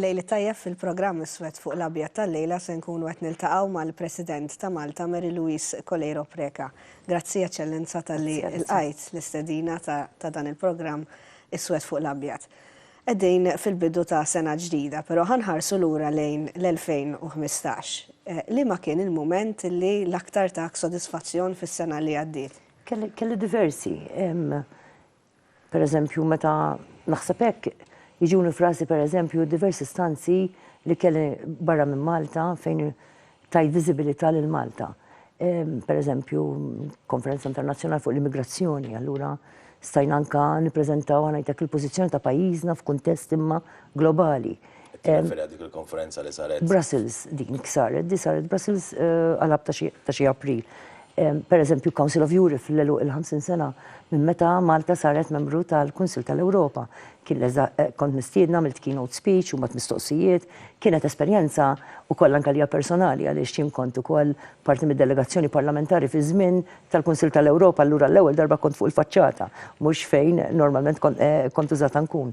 Lejl it-tajjeb fil-programm Iswed fuq l-Abjad tal-lejla se nkunu qed niltaqgħu mal-President ta' Malta Mary Louise Coleiro Preca. Grazzi Eċċellenza talli lqajt l-istedina ta' dan il-programm Iswed fuq l-Abjad. Qegħdin fil-bidu ta' sena ġdida, però ħa nħarsu lura lejn l-2015. Liema kien il-mument li l-aktar tak sodisfazzjon fis-sena li għaddiet? Kelli diversi. Per eżempju, meta naħseb hekk, jiġuni f'rasi per eżempju diversi stanzi li kelli barra minn Malta fejn tajt viżibilità lil Malta. Per eżempju, konferenza internazzjonali fuq l-immigrazzjoni, allura stajna anka nippreżentaw ngħidlek il-pożizzjoni ta' pajjiżna f'kuntest imma globali. Tirreferi għal dik il-konferenza li saret. Brussels din saret, di saret Brussels eh, għalab ta' xi April. Per eżempju, Council of Europe fil-lelu il-50 sena minn meta Malta saret membru tal-Kunsil tal-Ewropa. Kien eh, kont mistiedna mill keynote speech u mat mistoqsijiet, kienet esperjenza u koll anka lija personali għaliex xim kont ukoll parti mid-delegazzjoni parlamentari fi żmien tal-Kunsil tal-Ewropa allura l-ewwel darba kont fuq il-faċċata, mhux fejn normalment kont eh, użata nkun.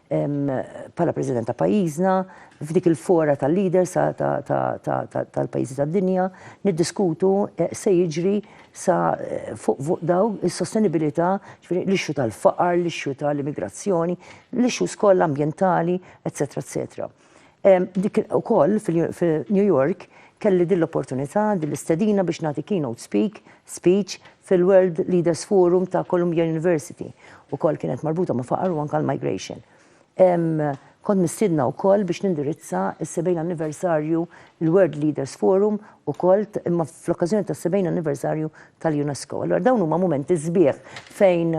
bħala President ta' pajjiżna, f'dik il-fora tal-leaders tal-pajjiżi tad-dinja, niddiskutu x'se jiġri sa fuq dawn is-sostenibilità, ġifieri l-issue tal-faqar, l-issue tal-immigrazzjoni, l-issues kollha ambjentali, etc. etc. Dik ukoll f'New York kelli din l-opportunità, din l-istedina biex nagħti keynote speak, speech, fil-World Leaders Forum ta' Columbia University. Ukoll kienet marbuta ma' faqar u anke l-migration. Kont mistiedna wkoll biex nindirizza s-70 anniversarju, il-World Leaders Forum ukoll, imma fl-okkażjoni tas-70 anniversarju tal-UNESCO. Allura dawn huma mumenti sbieħ fejn,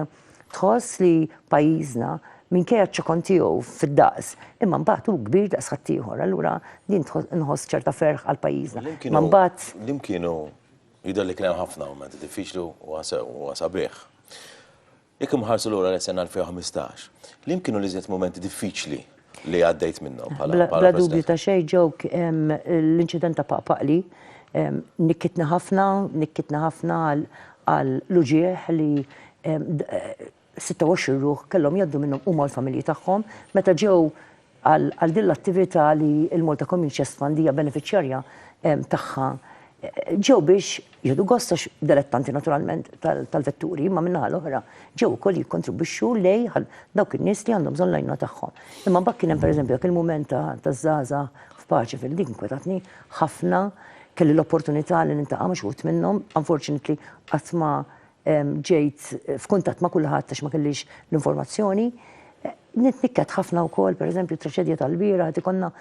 Tħoss li pajjiżna, minkejja ċ-ċokon tiegħu fid-daqs, imma mbagħad hu kbir daqs ħaddieħor, allura din nħoss ċerta ferħ għal pajjiżna. Imma mbagħad. L-hemm kienu jidher li kien hemm ħafna mumenti diffiċli u sabiħ. Jekk inħarsu lura lejn is-sena 2015, l-hemm kienu l-iżjed mumenti diffiċli li għaddejt minnhom bħala President. Bla dubju ta' xejn ġewk l-inċident ta' Paqpaqli nikkitni ħafna, nikkitni ħafna għal l-uġigħ li 26 ruħ kellhom jgħaddu minnhom huma u l-familji tagħhom meta ġew għal din l-attività li l-Malta Community Chest Fund hija benefiċjarja tagħha ġew biex jieħdu gost għax dilettanti naturalment tal-vetturi, imma min-naħa l-oħra ġew ukoll jikkontribwixxu lej għal dawk in-nies li għandhom bżonn l-għajnuna tagħhom. Imma mbagħad kien hemm pereżempju dak il-mument ta' taż-żgħażagħ f'paċi fil dik inkwetatni ħafna, kelli l-opportunità li nintaqa' ma' xi wħud minnhom, unfortunately qatt ma Ġejt f'kuntatt ma' kulħadd għax ma kellix l-informazzjoni. Nitnikket ħafna wkoll, pereżempju, traċedja tal-bieraħ qed ikollna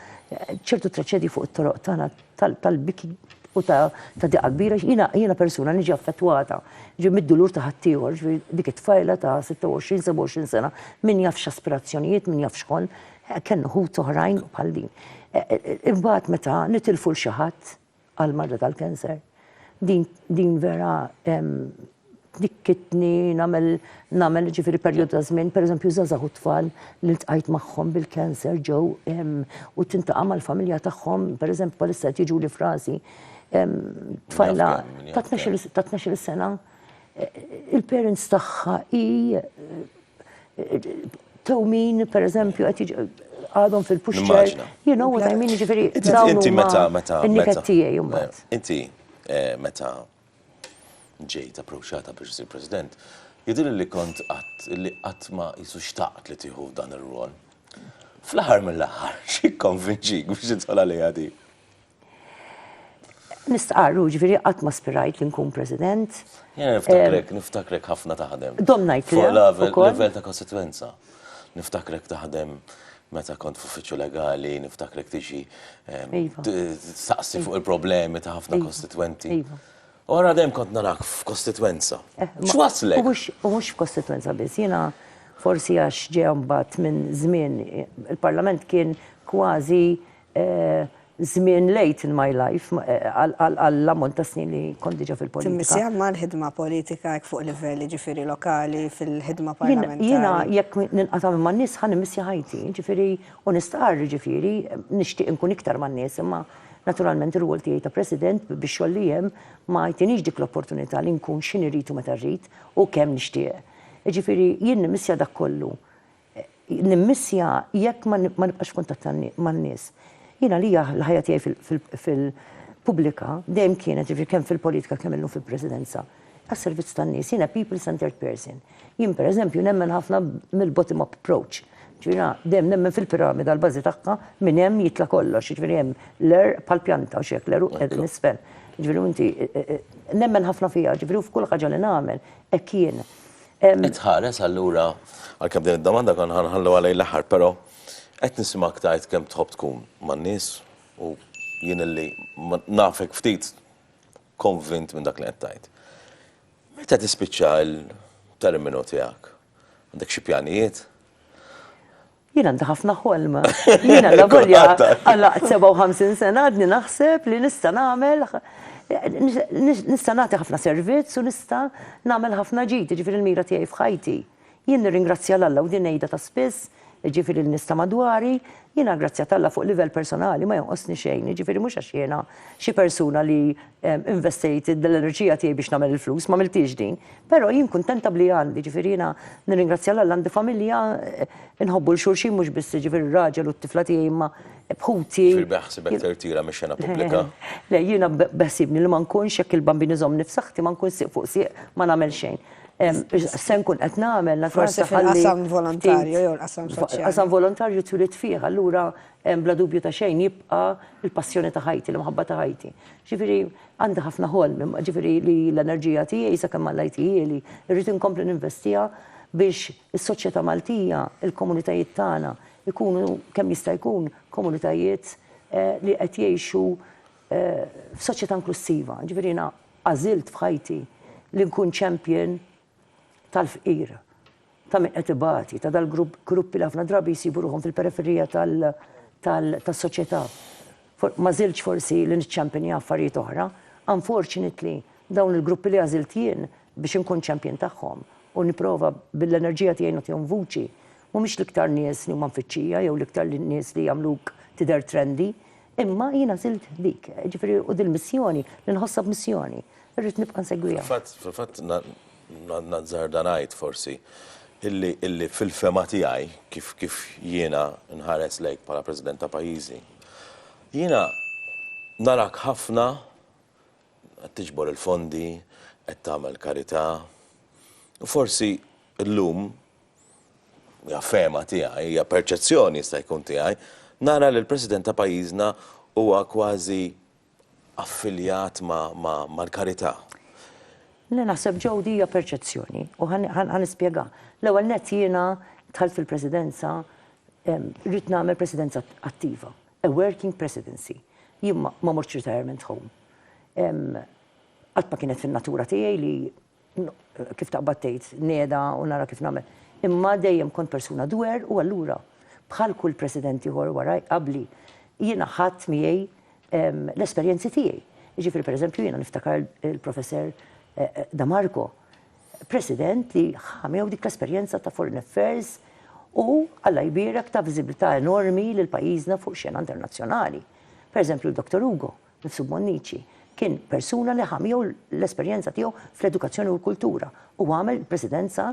ċertu traċedji fuq it-toroq tagħna tal-biki u ta' diqa kbira. Jiena persuna niġi affettwata ġi mid-dulur ta' ħaddieħor, ġifieri dik it-tfajla ta' 26-27 sena, min jaf x'aspirazzjonijiet, min jaf x'kon, kellna ħut oħrajn bħal din. Imbagħad meta nitilfu 'l xi ħadd, għall-marda tal-cancer. Din vera tnikkitni nagħmel nagħmel ġifieri perjodu ta' żmien, pereżempju żgħażagħ u tfal li ltqajt magħhom bil-cancer ġew u tintaqa' mal-familja tagħhom, pereżempju bħalissa qed jiġuli f'rasi tfajla ta' tnax-il sena, il-parents tagħha hi tewmin, per eżempju, għadhom fil-puxċer. You know what I mean, ġifiri. Inti meta, meta. Niket tijaj, jumbat. Inti eh, meta ġejt approċċata biex isir president, jidir li kont għat li għat ma jisu xtaqt li tiħu dan il-rol. Fl-ħar mill-ħar, xie konvinċik biex jitħol għalija di? Nistqarru, ġviri, qatt ma spirajt li nkun president. Jena niftakrek, eh, niftakrek ħafna taħdem. Dom najt li. Level ta' konsekwenza. Niftakrek taħdem meta kont f'uffiċċju legali, niftakrek tiġi eh, iva. saqsi fuq il-problemi ta' ħafna iva. kostitwenti. Iva. Ora dejjem kont narak f'kostitwenza. Eh, X'waslek? U mhux f'kostitwenza biss, jiena forsi għax ġejhom bat minn żmien il-Parlament kien kważi żmien late in my life għall-ammont ta' snin li kont diġà fil-politika. Timmissieha mal-ħidma politika hekk fuq livell jiġifieri lokali fil-ħidma parlamentari? Jiena jekk ninqata' minn man-nies ħa nimmissja ħajti, jiġifieri u nistqarr jiġifieri nixtieq inkun iktar man-nies imma naturalment ir-rwol tiegħi ta' President bix-xogħol li hemm ma jtinix dik l-opportunità li nkun x'inhi rrid u meta rrid u kemm nixtieq. Jiġifieri jien nimmissja dak kollu Nimmissja jekk ma nibqax f'kuntatt man-nies. Jien għalija l-ħajja tiegħi fil-pubblika dejjem kienet, jiġifieri kemm fil-politika kemm illum fil-Presidenza, għas-servizz tan-nies. Jiena people centred person. Jien pereżempju nemmen ħafna mill-bottom up approach. Jiġifieri jiena dejjem nemmen fil-piramida l-bażi tagħha minn hemm jitla' kollox. Jiġifieri hemm l-għerq bħall-pjanta u xi hekk l-għeruq qegħdin isfel. Jiġifieri u inti nemmen ħafna fiha, jiġifieri u f'kull ħaġa li nagħmel hekk jien. Qed tħares allura, għalkemm din id-domanda kont ħa nħalluha lejn l-aħħar, però qed nisimgħek tgħid kemm tħobb tkun man-nies u jien illi nafek ftit konvint minn dak li qed tgħid. Meta tispiċċa l-terminu tiegħek? Għandek xi pjanijiet? Jien għandi ħafna ħolm. Jien alla volja għalaqt 57 sena għadni naħseb li nista' nagħmel nista' nagħti ħafna servizz u nista' nagħmel ħafna ġid, jiġifieri l-mira tiegħi f'ħajti. Jien nirringrazzja l-Alla u din ngħidha ta' spiss, jiġifieri l-nista madwari, jiena grazzi għat-Alla fuq livell personali ma jonqosni xejn, jiġifieri mhux għax jiena xi persuna li investejt l-enerġija tiegħi biex nagħmel il-flus, m'għamilthiex din, però jien kuntenta b'li għandi, jiġifieri jiena nirringrazzja 'l Alla għandi familja, inħobbu 'l xulxin mhux biss jiġifieri r-raġel u t-tifla tiegħi imma b'ħuti. Ġifieri beħsibek tirtira mix-xena pubblika? Le, jiena beħsiebni li ma nkunx, jekk il-Bambin iżommni f'saħħti, ma nkun sieq fuq sieq ma nagħmel xejn. Se nkun qed nagħmel, naturalment. Forsi fil-qasam volontarju jew l-qasam soċjali. Fil-qasam volontarju twilit fih, allura Bla dubju ta' xejn jibqa' l-passjoni ta' ħajti, l-imħabba ta' ħajti. Ġifieri għandi ħafna ħolm, ġifieri li l-enerġija tiegħi sakemm Alla jtihieli, irrid inkompli ninvestiha biex is-soċjetà Maltija, il-komunitajiet tagħna jkunu kemm jista' jkun komunitajiet li qed jgħixu f'soċjetà inklussiva. Ġifieri jiena għażilt f'ħajti li nkun champion tal-fqir, ta' min qed ibati, ta' dal-gruppi li ħafna drabi jsibu ruħhom fil-periferija tas-soċjetà. Ma żiltx forsi li niċċampinja affarijiet oħra. Unfortunately, dawn il-gruppi li għażilt jien biex inkun champion tagħhom u nipprova bil-enerġija tiegħi nagħtihom vuċi, mhumiex l-iktar nies li huma mfittxija jew l-iktar nies li jagħmluk tidher trendy. Imma jiena għażilt dik, ġifieri u dil-missjoni li nħossha b'missjoni. Irrid nibqa' nsegwiha. Fil-fatt, fil-fatt nazzarda ngħid forsi illi illi fil-fehma tiegħi kif kif jiena nħares lejk bħala President ta' pajjiżi, jiena narak ħafna qed tiġbor il-fondi, qed tagħmel karità u forsi llum hija fehma tiegħi, hija perċezzjoni jista' jkun tiegħi, nara li l-President ta' pajjiżna huwa kważi affiljat mal-karità. Le naħseb Joe di hija perċezzjoni u ħa nispjega. L-ewwel nett jiena dħalt fil-Presidenza rrid nagħmel Presidenza attiva, a working Presidency. Jien ma mortx retirement home. Qatt ma kienet fin-natura tiegħi li kif taqbad tgħid, nieda u nara kif nagħmel. Imma dejjem kont persuna dwer u allura bħal kull President ieħor wara qabli jiena ħadt miegħi l-esperjenzi tiegħi. Jiġifieri pereżempju jiena niftakar il-Professor Da Marco, President li ħa miegħu dik l-esperjenza ta' Foreign Affairs u Alla jbierek ta' viżibilità enormi lil pajjiżna fuq xena internazzjonali. Pereżempju Dr. Ugo, Nifsu Bonnici kien persuna li ħa miegħu l-esperjenza tiegħu fl-edukazzjoni u l-kultura u għamel il-presidenza,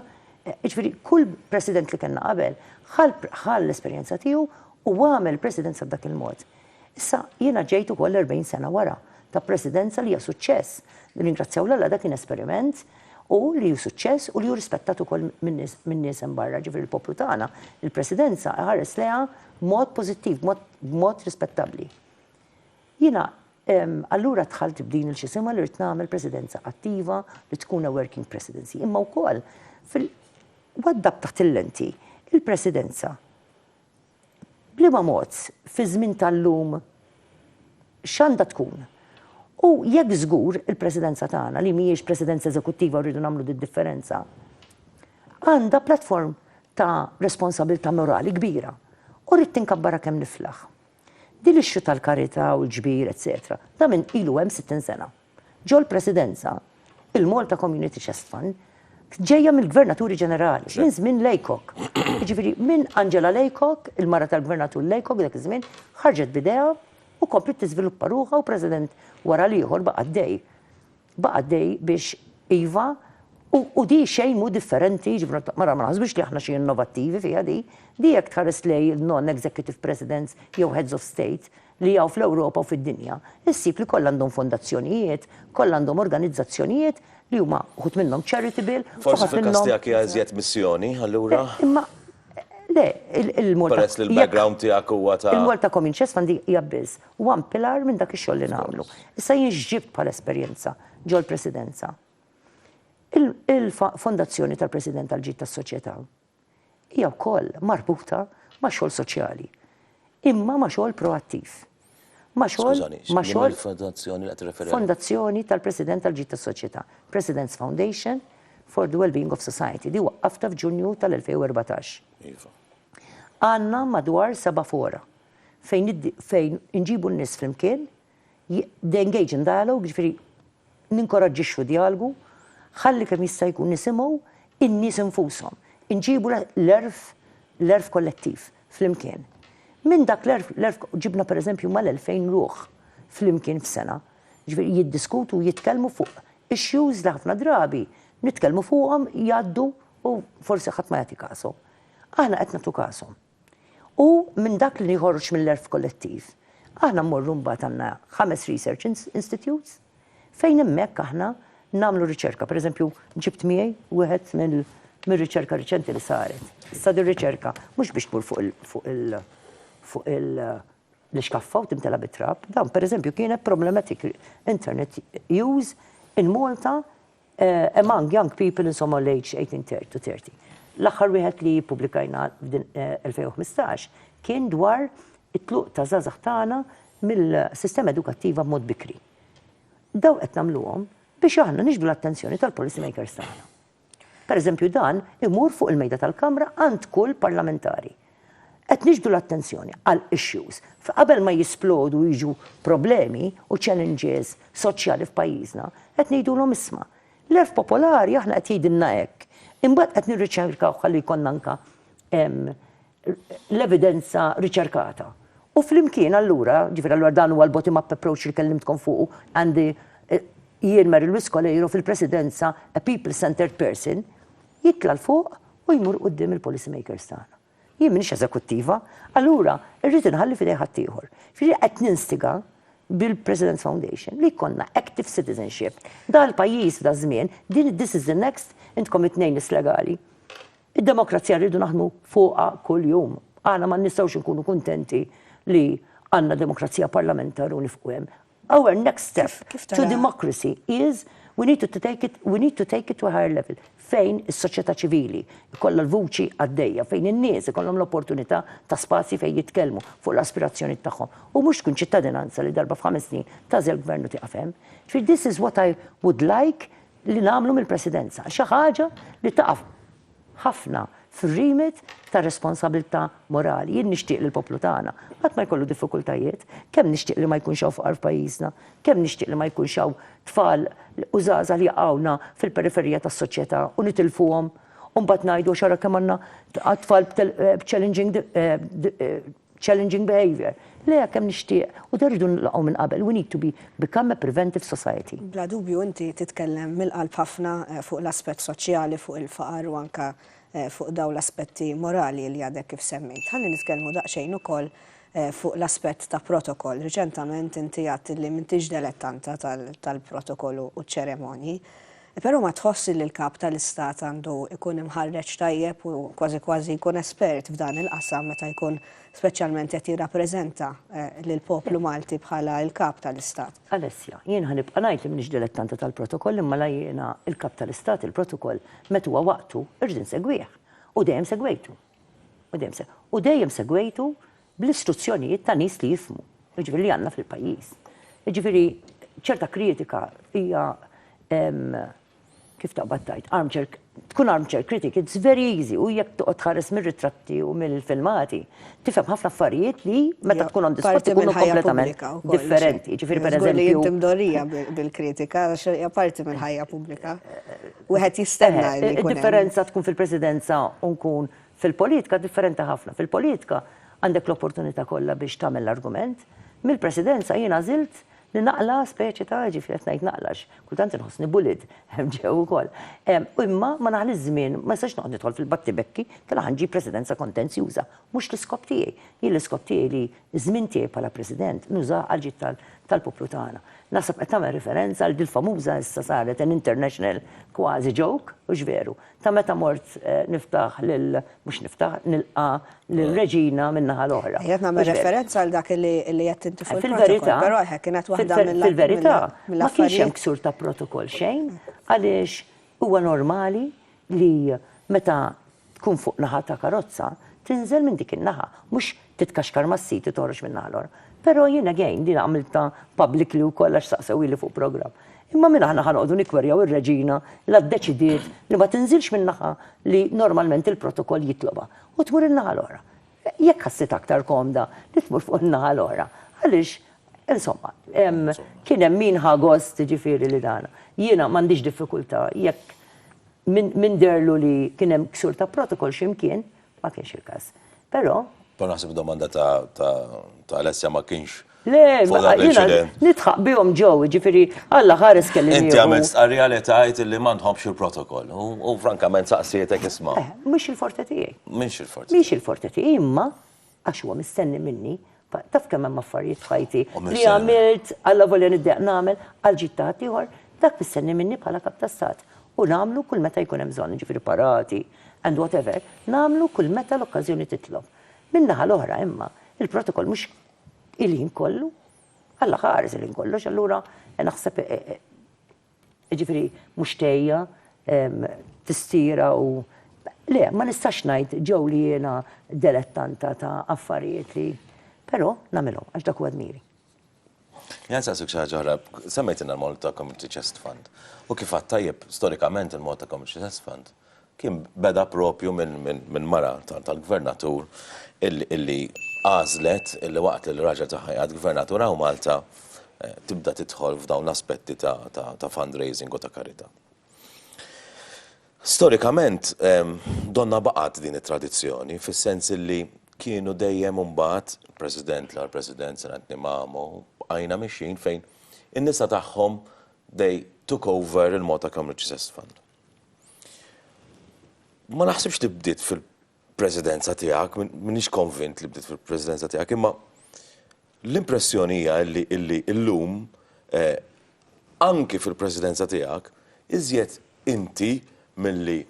jiġifieri kull president li kellna qabel ħa l-esperjenza tiegħu u għamel il-presidenza b'dak il-mod. Issa jiena ġejt ukoll 40 sena wara ta' presidenza li hija suċċess. Nirringrazzjaw lil Alla dak kien esperiment u li hu suċċess u li hu rispettat ukoll min-nies hemm barra, ġifieri l-poplu tagħna, il-presidenza iħares lejha b'mod pożittiv, b'mod rispettabbli. Jiena allura dħalt b'din il-x'isimha li rrid nagħmel presidenza attiva li tkun a working presidency. Imma wkoll fil waddab taħt il-lenti il-presidenza bliema mod fiż-żmien tal-lum x'għandha tkun? U jekk żgur il-presidenza tagħna li mhijiex presidenza eżekuttiva u rridu nagħmlu d-differenza għandha platform ta' responsabilità morali kbira u rrid tinkabbarha kemm niflaħ. Din l-issue tal-karità u l-ġbir eċċetera ta' min ilu hemm 60 sena. Ġol-Presidenza, il-Malta Community Chest Fund ġejja mill-Gvernaturi Ġenerali, minn żmien Laycock. Jiġifieri minn Angela Laycock, il-mara tal-Gvernatur Laycock dak iż-żmien, ħarġet b'ideha u kompliet tiżviluppa ruħha u President wara l-ieħor baqa' għaddej. Baqa' għaddej biex iva, u di xejn mhu differenti, jiġifieri ma naħsbux li aħna xi innovattivi fiha di. Di jekk tħares lejn il-non-executive presidents jew heads of state li hawn fl-Ewropa u fid-dinja, issib li kollha għandhom fondazzjonijiet, kollha għandhom organizzazzjonijiet li huma wħud minnhom charitable, uħud minnhom. Forsi fil-każ tiegħek hija iżjed missjoni, allura? Imma le, il-Malta. Peress li l-background tiegħek huwa ta'. Il-Malta Community Chest Fund hija biss Huwa mpilar minn dak ix-xogħol li nagħmlu. Issa jien x'ġibt bħala esperjenza ġol-Presidenza? Il-Fondazzjoni tal-President għall-Ġid tas-Soċjetà hija wkoll marbuta ma' xogħol soċjali, imma ma' xogħol proattiv. Ma' xogħol ma' xogħol Fondazzjoni tal-President għall-Ġid tas-Soċjetà, President's Foundation for the Wellbeing of Society, di waqqafta f'Ġunju tal-2014. Għandna madwar seba' fora fejn fejn inġibu n-nies flimkien, the engage in dialogue, jiġifieri ninkoraġġixxu djalgu, ħalli kemm jista' jkun nisimgħu n-nies infushom. Inġibu l-għerf l-għerf kollettiv flimkien. Minn dak l-għerf l-għerf ġibna pereżempju mal-2000 ruħ flimkien f'sena. Ġifieri jiddiskutu u jitkellmu fuq issues li ħafna drabi nitkellmu fuqhom jgħaddu u forsi ħadd ma jagħti kasu. Aħna qed nagħtu kasom. U minn dak li jħorġ mill-għerf kollettiv, aħna mmorru mbagħad għandna ħames research institutes fejn hemmhekk aħna nagħmlu riċerka. Pereżempju, ġibt miegħi wieħed mir-riċerka riċenti li saret. Issa din riċerka mhux biex tmur fuq il- fuq l-ixkaffa u timtela bit-trab. Dan pereżempju kienet problematic internet use in Malta Among young people in Somali aged 18 to 30. L-aħħar wieħed li ppubblikajna f'din 2015 kien dwar it-tluq ta' żgħażagħ tagħna mill-sistema edukattiva b'mod bikri. Dawn qed nagħmluhom biex aħna niġbdu l-attenzjoni tal-policy makers tagħna. Pereżempju dan imur fuq il-mejda tal-Kamra għand kull parlamentari. Qed niġbdu l-attenzjoni għal issues fi qabel ma jisplodu u jiġu problemi u challenges soċjali f'pajjiżna, qed ngħidulhom isma', l-għerf popolari aħna qed jgħidilna hekk, imbagħad qed nirriċerkawh ħalli jkollna anke l-evidenza riċerkata. U flimkien allura, ġifieri allura dan huwa l-bottom up approach li kellimtkom fuqu and jien Mary Louise Coleiro fil-Presidenza a people centred person, jitla' 'l fuq u jmur quddiem il-policy makers tagħna. Jien m'iniex eżekuttiva, allura rrid inħalli f'idejn ħaddieħor. Jiġifieri qed ninstiga bil-President's Foundation li jkollna active citizenship. Dal-pajjiż f'daż-żmien, din it this is the next, intkom it-tnejn nies legali, id-demokrazija rridu naħdmu fuqha kuljum. Aħna ma nistgħux inkunu kuntenti li għandna demokrazija parlamentar u nifqu hemm. Our next step to democracy is we need to take it, we need to take it to a higher level fejn is-soċjetà ċivili kollha l-vuċi għaddejja, fejn in-nies ikollhom l-opportunità ta' spazji fejn jitkellmu fuq l-aspirazzjoni tagħhom. U mhux tkun ċittadinanza li darba f'ħames snin tażel gvern u tieqaf hemm. Ġifieri this is what I would like li nagħmlu mill-Presidenza. Xi ħaġa li taqaf ħafna fir-remit tar-responsabbiltà morali. Jien nixtieq li l-poplu tagħna qatt ma jkollu diffikultajiet. Kemm nixtieq li ma jkunx hawn faqar f'pajjiżna. Kemm nixtieq li ma jkunx hawn tfal u żgħażagħ li jaqgħuna fil-periferija tas-soċjetà u nitilfuhom u mbagħad ngħidu għax ara kemm għandna tfal b'challenging challenging behaviour, lejha kemm nixtieq u dan rridu nilqgħu minn qabel, we need to be become a preventive society. Bla dubju inti titkellem mill-qalb ħafna fuq l-aspett soċjali, fuq il-faqar u anke fuq dawn l-aspetti morali li għadek kif semmejt. Ħalli nitkellmu daqsxejn ukoll fuq l-aspett ta' protokol. Riċentament inti għedt li m'intix delettanta tal-protokolu u ċ-ċeremonji. Però ma tħossx li l-Kap tal-Istat għandu jkun imħarreġ tajjeb u kważi kważi jkun espert f'dan il-qasam meta jkun speċjalment qed jirrappreżenta lill-poplu Malti bħala l-Kap tal-Istat? Alessia, Jien ħa nibqa' ngħid li m'iniex dilettanta tal-protokoll imma la jiena l-Kap tal-Istat il-protokoll meta huwa waqtu irrid insegwih u dejjem segwejtu. U dejjem segwejtu bl-istruzzjonijiet ta' nies li jifhmu, jiġifieri li għandna fil-pajjiż. Jiġifieri ċerta kritika hija kif taqbad tgħid, armchair, tkun armchair critic, it's very easy, u jekk toqgħod tħares mir-ritratti u mill-filmati, tifhem ħafna affarijiet li meta tkun on the spot ikunu kompletament differenti. Jiġifieri pereżempju. Inti mdorrija bil-kritika għax hija parti mill-ħajja pubblika. wieħed jistenna li jkun hemm. Id-differenza tkun fil-Presidenza u nkun fil-politika differenti ħafna. Fil-politika għandek l-opportunità kollha biex tagħmel l-argument. Mill-Presidenza jien għażilt li naqla' speċi ta' jiġifieri qed ngħid naqla' għax kultant inħossni bullied hemm ġew ukoll. Imma ma naħliex żmien, ma nistax noqgħod nidħol fil-battibekki, kellha ħa nġib Presidenza kontenzjuża. Mhux l-iskop tiegħi. Jien l-iskop tiegħi li Iż-żmien tiegħi bħala President nużah għall-ġid tal-poplu tagħna. Naħseb qed tagħmel riferenza għal dil famuża issa saret an international kważi joke, hux veru? ta' meta mort niftaħ lil, mhux niftaħ, nilqa' lir-Reġina min-naħa l-oħra. Ejja, qed nagħmel referenza għal dak li għedt inti fuq il-protokoll, però eħe kienet waħda mill-affarijiet. Fil-verità, ma kienx hemm ksur ta' protokoll xejn għaliex huwa normali li meta tkun fuq naħa ta' karozza, tinżel minn dik in-naħa, mhux titkaxkar mas-sit u toħroġ min-naħa l-oħra. Però jien again, din għamiltha publicly wkoll għax saqsewhieli fuq programm. Imma min aħna ħa noqogħdu nikkwerjaw ir-Reġina la ddeċidiet li ma tinżilx min-naħa li normalment il-protokoll jitlobha u tmur in-naħa l-oħra? Jekk ħassitha aktar komda li tmur fuq in-naħa l-oħra, għaliex insomma, kien hemm min ħa gost jiġifieri li dan. Jiena m'għandix diffikultà jekk min deherlu li kien hemm ksur ta' protokol xi mkien, ma kienx il-każ. Però. Però naħseb id-domanda ta' Alessia ma kienx. Le, jina, nitħaq bihom ġew, ġifiri, għalla ħares kelli. Inti għamil stqarrija li tajt li ma nħobx il-protokoll. U frankament saqsietek isma. Eh, mux il-forte tijaj. Mux il-forte. Mux il-forte tijaj, imma għax huwa mistenni minni, taf kemm hemm affarijiet fajti li għamilt għalla volja niddeq nagħmel għal ġitta ieħor, dak mistenni minni bħala kap ta' stat. U nagħmlu kull meta jkun hemm bżonn, ġifiri parati, and whatever, nagħmlu kull meta l-okkażjoni titlob. Minnaħa l-oħra imma, il-protokoll mhux Il-ħin kollu. Alla ħares il-ħin kollox, allura naħseb ġifieri mhux tejja tistira u le, ma nistax ngħid ġew li jiena dilettanta ta' affarijiet li però nagħmilhom għax dak huwa dmiri. Jien saqsik xi ħaġa oħra, semmejtilna l-mod ta' Community Chest Fund. U kif għad tajjeb, storikament il-mod ta' Community Chest Fund kien beda proprju minn mara tal-Gvernatur illi għażlet illi waqt li l-raġel tagħha jgħad Gvernatur hawn Malta tibda tidħol f'dawn l-aspetti ta' fundraising u ta' karità. Storikament donnha baqgħet din it-tradizzjoni fis-sens illi kienu dejjem imbagħad President l-ewwel President Sir Anthony Mamo bqajna mixjin fejn in-nisa tagħhom they took over il-Malta Community Chest Fund. Ma naħsibx li bdiet fil-presidenza tiegħek, minix konvint li bdiet fil-presidenza tiegħek, imma l-impressjoni hija illi illi illum eh, anki fil-presidenza tiegħek iżjed inti milli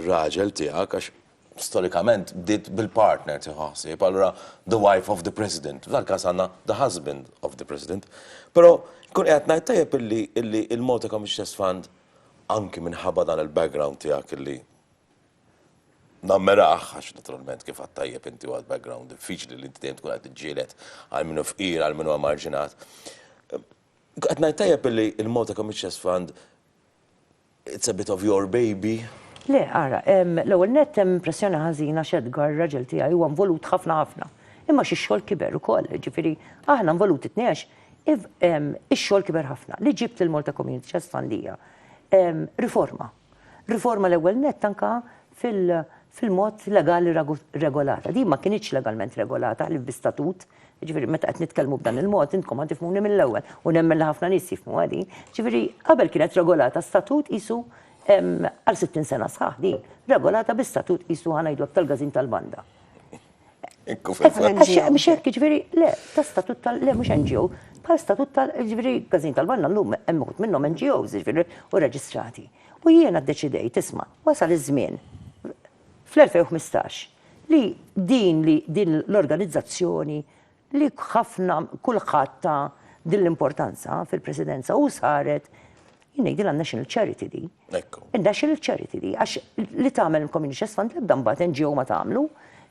raġel tiegħek għax storikament bdiet bil-partner tieħu ħsieb, allura the wife of the President. F'dan każ għandna the husband of the President. Però nkun qiegħed ngħid tajjeb illi illi il-Malta Community Trust Fund anki minħabba dan il-background tiegħek illi nammirah għax naturalment kif għad tajjeb inti għad background diffiċli li inti dejjem tkun qed tiġġieled għal minnu fqir għal minnu marġinat. Qed ngħid tajjeb illi il-Malta Community Trust Fund It's a bit of your baby. Le, ara, l-ewwel nett hemm impressjoni ħażina għax Edgar, ir-raġel tiegħi, huwa involut ħafna ħafna. Imma xi x-xogħol kiber ukoll, jiġifieri aħna involuti t-tnejn għax ix-xogħol kiber ħafna. Li ġibt lill-Malta Community Chest f'għandija, riforma. Riforma l-ewwel nett anke fil-mod legali regolata. Din ma kinitx legalment regolata ħlief bi statut, jiġifieri meta qed nitkellmu b'dan il-mod intkom ħa tifhmuni mill-ewwel u nemmen li ħafna nies jifhmuha din. Jiġifieri qabel kienet regolata statut qisu għal 60 sena sħaħ din, regolata bi statut qisu ħa ngħidu hekk tal-gażin tal-banda. Ekku fil-fatt. Mhux hekk jiġifieri le, ta' statut tal le mhux NGO, bħal statut tal jiġifieri gażin tal-banda llum hemm uħud minnhom NGOs jiġifieri u reġistrati. U jiena ddeċidejt, isma', wasal iż-żmien, fl-2015, li din li din l-organizzazzjoni li ħafna, kulħadd ta din l-importanza fil-Presidenza u saret, jien ngħidilha national charity di. Ekku. National charity di, għax li tagħmel il-Community Chest Fund l-ebda mbagħad NGO ma tagħmlu.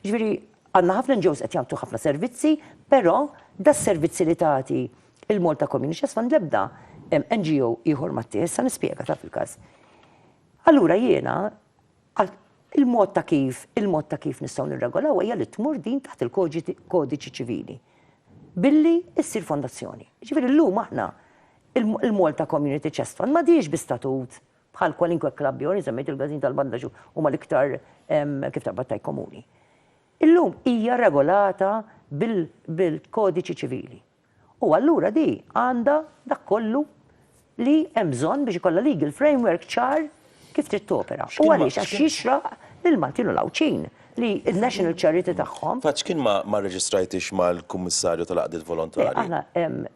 Ġifieri għandna ħafna NGOs qed jagħtu ħafna servizzi, però das-servizzi li tagħti Il-Malta Community Chest Fund l-ebda NGO ieħor ma tieħ, sa nispjega taf il-każ. Allura jiena il-mod ta' kif, il-mod ta' kif nistgħu nirregolaw hija li tmur din taħt il-kodiċi ċivili. Billi issir fondazzjoni. Ġifieri llum aħna il-Malta Community Chest Fund ma diex bi statut bħal kwalinkwe klabb jew semmejt il-gazin tal-bandaġu huma l-iktar kif ta' battaj komuni. Illum hija regolata bil-kodiċi ċivili. U allura di għandha dak kollu li hemm bżonn biex ikollha legal framework ċar kif trid topera. U għaliex? Għax jixraq lill-Maltin u l-Għawdxin li n-national charity tagħhom. Fatt x'kien ma rreġistrajtix mal-Kummissarju tal-Għaqdiet Volontarji? Le, aħna,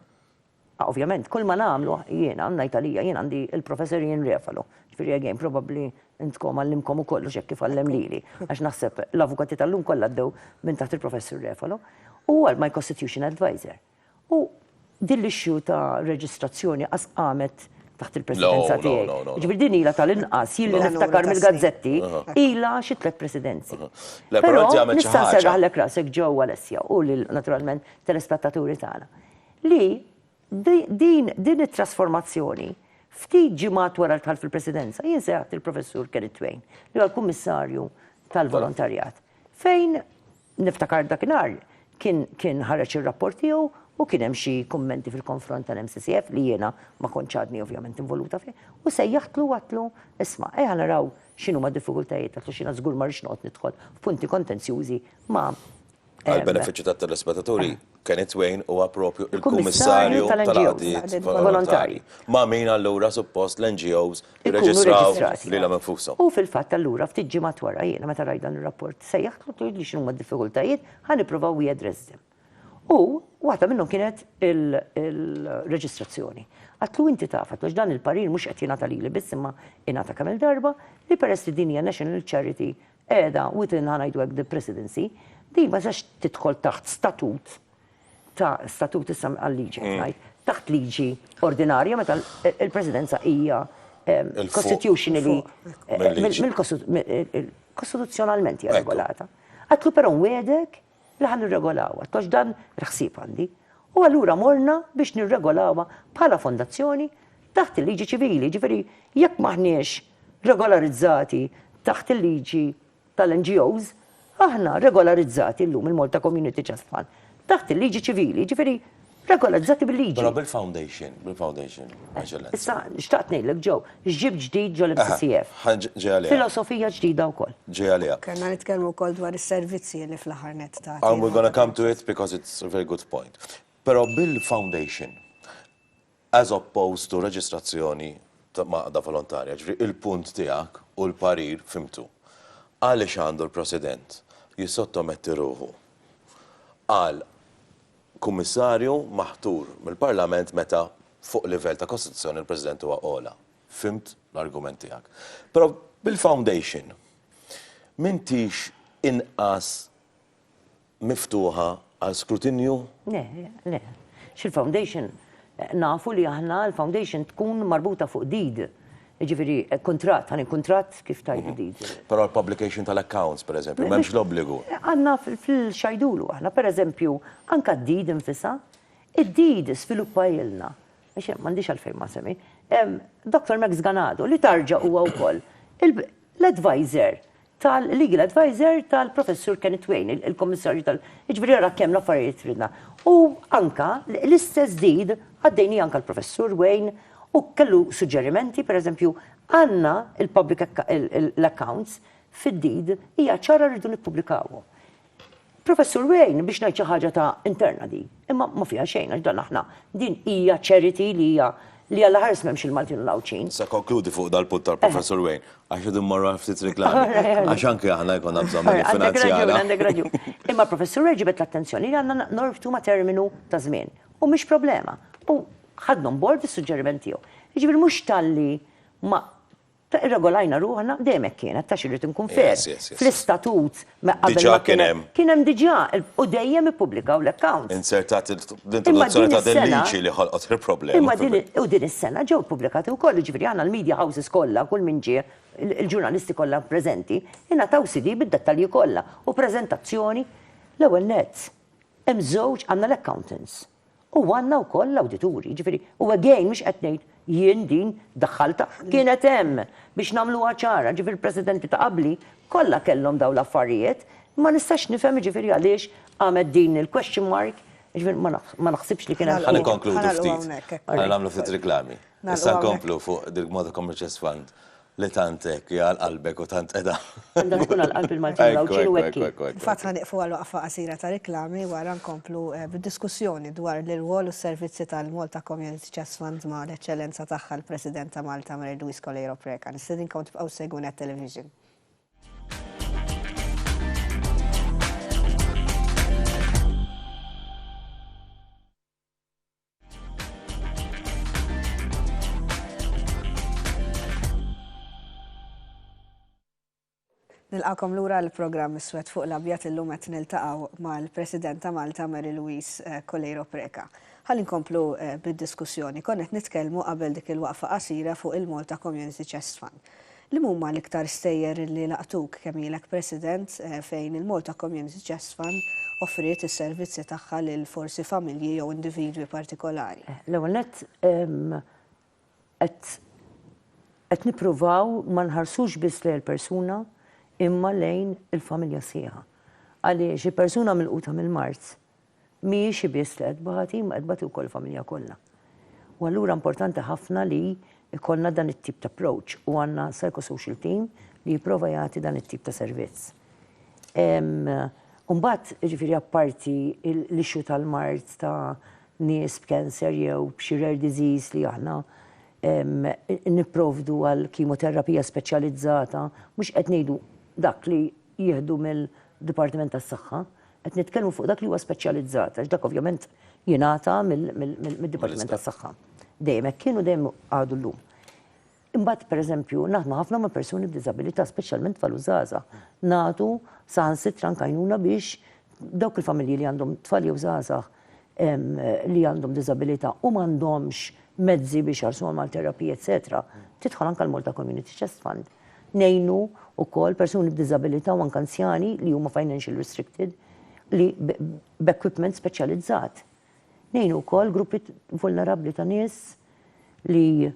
ovvjament, kull ma nagħmlu jiena, ngħid għalija, jien għandi l-Professor Ian Refalo, ġifieri again, probabbli Intkom għallimkom u kollox hekk kif għallem lili, għax naħseb l-avukati tal-lum kollha għaddew minn taħt il-Professur Refalo, u huwa my constitution adviser. U din l-issue ta' reġistrazzjoni qas qamet taħt il-presidenza tiegħi. Ġifieri din ilha tal-inqas jien li niftakar mill-gazzetti ilha xi tliet presidenzi. Però nista' nserraħlek rasek ġew Alessia u lil naturalment telespettaturi tagħna li Din it-trasformazzjoni, ftit ġimgħat wara d-dħul fil-Presidenza, jien sejħt lill-Professur Kenneth Twain, li huwa l-Kummissarju tal-Volontarjat, fejn, niftakar dakinhar, kien ħareġ ir-rapport tiegħu u kien hemm xi kummenti fil-konfront tal-MCCF li jiena ma kontx għadni ovvjament involuta fih, u sejjaħtlu u għedtlu, isma', ejja naraw x'inhuma d-diffikultajiet għax jiena żgur ma rridx noqgħod nidħol f'punti kontenzjużi ma' Għall-benefiċċju tat-telespetaturi, Kenny Twain huwa proprju l-Kummissarju tal-Għaqdiet Volontarji. Ma' min allura suppost l-NGOs jirreġistraw lilhom infushom? U fil-fatt allura ftit ġimgħat wara jiena meta rajt dan ir-rapport sejjaħt u għidtli x'inhuma d-diffikultajiet, ħa nippruvaw we address them. U waħda minnhom kienet il-reġistrazzjoni. Għidtlu inti taf, għidtlu għax dan il-parir mhux qed jingħata lili biss imma ingħata kemm-il darba li peress li din hija national charity qiegħda within, ħa ngħidu hekk, the Presidency, din ma tistax tidħol taħt statut ta' statut issa għal liġi qed ngħid, taħt liġi ordinarja meta l-Presidenza hija constitutionally kostituzzjonalment hija regolata. Għidtlu però nwiegħdek li ħa nirregolawha, għax dan il-ħsieb għandi, u allura morna biex nirregolawha bħala fondazzjoni taħt il-liġi ċivili, jiġifieri jekk m'aħniex regolarizzati taħt il-liġi tal-NGOs, aħna regolarizzati llum il-Malta Community Trust Fund taħt il-liġi ċivili, jiġifieri Regolarizzati bil-liġi. Però bil-foundation, bil-foundation. Issa, xtaqt ngħidlek ġew, x'ġib ġdid ġol MCCF. Filosofija ġdida wkoll. Ġej għaliha. Kellna nitkellmu wkoll dwar is-servizzi li fl-aħħar nett ta'. And we're gonna come to it because it's a very good point. Però bil-foundation, as opposed to reġistrazzjoni ta' għaqda volontarja, ġifieri il-punt tiegħek u l-parir fhimtu. Għaliex għandu l-President jissottometti ruħu għal Kummissarju maħtur mill-Parlament meta fuq livell ta' Kostituzzjoni l-President huwa ogħla. Fhimt l-argument tiegħek. Però bil-foundation m'intix inqas miftuħa għal skrutinju? Le, le. X'il-foundation? Nafu li aħna l-foundation tkun marbuta fuq deed. Jiġifieri kuntratt, għalien kuntratt kif tgħid il-liġi. Però l-publication tal-accounts, pereżempju, m'hemmx l-obbligu. Għandna fil-xajdulu aħna, pereżempju, anke d-deed infisha, id-deed żviluppajilna, għax m'għandix għalfejn ma nsemmi, Doctor Max Ganado li tarġa huwa wkoll l-adviser tal-Legal Adviser tal-Professur Kenneth Wain, il-Kummissarju tal-, jiġifieri ara kemm l-affarijiet ridna. U anke l-istess deed għaddejniha anke l-Professur Wain u kellu suġġerimenti, pereżempju, għandna l-public, l-accounts fid-deed hija ċara rridu nippubblikawhom. Professur Wayne, biex ngħid xi ħaġa ta' interna din, imma ma fiha xejn għax dan aħna din hija charity li hija li alla ħares m'hemmx il-Maltin u l-Għawdxin. Issa konkludi fuq dal-punt tal-Professur Wayne għax qed immorru għal ftit riklami. Għax anke aħna jkollna bżonn minn finanzjara. Għandek raġun, għandek raġun. Imma l-Professur Wayne ġibed l-attenzjoni li għandna norbtu ma' terminu ta' żmien u mhix problema. U ħadna on board is-suġġeriment tiegħu. Jiġifieri mhux talli ma Ta' irregolajna ruħna, dejjem hekk kienet, ta' x'irrid inkun fair, fl-istatut qabel ma kien hemm. Kien hemm diġà u dejjem ippubblikaw l-accounts. Inzertat l-introduzzjoni ta' din liġi li ħolqot il-problema. U din is-sena ġew ippubblikati wkoll, jiġifieri aħna l-media houses kollha, kull min ġie, il-ġurnalisti kollha preżenti, ingħataw CD bid-dettalji kollha u preżentazzjoni. L-ewwel nett, hemm żewġ, għandna l-accountants, U għandna wkoll l-awdituri, jiġifieri u again mhux qed ngħid jien din daħħaltha, kienet hemm biex nagħmluha ċara, jiġifieri l-Presidenti ta' qabli kollha kellhom dawn l-affarijiet, ma nistax nifhem jiġifieri għaliex qamet din il-question mark, jiġifieri ma naħsibx li kien hemm. Ħa nikkonkludu ftit, ħa nagħmlu ftit riklami. Issa nkomplu fuq Dirk Motta Commercials Fund Li tant hekk hija għal qalbek u tant qiegħda. Għandha tkun għal qalb il-Maltin u l-Għawdxin u hekk hi. Infatti ħa nieqfu għal waqfa qasira ta' riklami wara nkomplu bid-diskussjoni dwar l-irwol u s-servizzi tal-Malta Community Chest Fund ma' l-Eċċellenza Tagħha l-President ta' Malta Mary Louise Coleiro Preca. Nistedinkom tibqgħu ssegwu Net Television. Nilqakom lura l-programm Iswed fuq l-Abjad illum qed niltaqgħu mal-President ta' Malta Mary Louise eh, Coleiro Preca. Ħalli nkomplu eh, bid-diskussjoni. Konna qed nitkellmu qabel dik il-waqfa qasira fuq il-Malta Community Chest Fund. Liemhuma l-iktar stejjer li laqtuk kemm ilek President fejn il-Malta Community Chest Fund offriet is-servizzi tagħha lil forsi familji jew individwi partikolari? L-ewwel nett, qed qed nippruvaw ma nħarsux biss lejn il-persuna imma lejn il-familja sħiħa. Għaliex il-persuna milquta mill-mard, mhijiex hi biss li qed tbati imma qed tbati wkoll il-familja kollha. U allura importanti ħafna li jkollna dan it-tip ta' approach u għandna psychosocial team li jipprova jagħti dan it-tip ta' servizz. U mbagħad, jiġifieri apparti l-issue tal-mard ta' nies b'cancer jew b'xi rare disease li aħna nipprovdu għal kemoterapija speċjalizzata, mhux qed ngħidu dak li jieħdu mill-Dipartiment tas-Saħħa, qed nitkellmu fuq dak li huwa speċjalizzat, għax dak ovvjament jingħata mid-Dipartiment tas-Saħħa. Dejjem hekk kien u dejjem għadu llum. Imbagħad pereżempju naħdmu ħafna ma' persuni b'diżabilità, speċjalment tfal u żgħażagħ. Nagħtu saħansitra anke għajnuna biex dawk il-familji li għandhom tfal jew żgħażagħ li għandhom diżabilità u m'għandhomx mezzi biex iħallsuhom għal terapija eċċetera, tidħol anke l-Malta Community Chest Fund. Ngħinu wkoll persuni b'diżabilità u anke anzjani li huma financial restricted li b'equipment speċjalizzat. Ngħinu wkoll gruppi vulnerabbli ta' nies li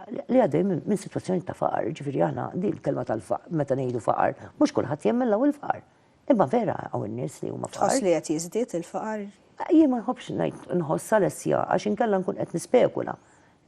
li għaddej minn situazzjoni ta' faqar, ġifiri għana di l-kelma tal-faqar, meta nejdu faqar, mux kullħat jemmen law il-faqar. Imma vera hawn nies li huma fqar. Tħoss li qed jiżdied il-faqar? Jien ma nħobbx ngħid nħoss Alessia għax inkella nkun qed nispekula.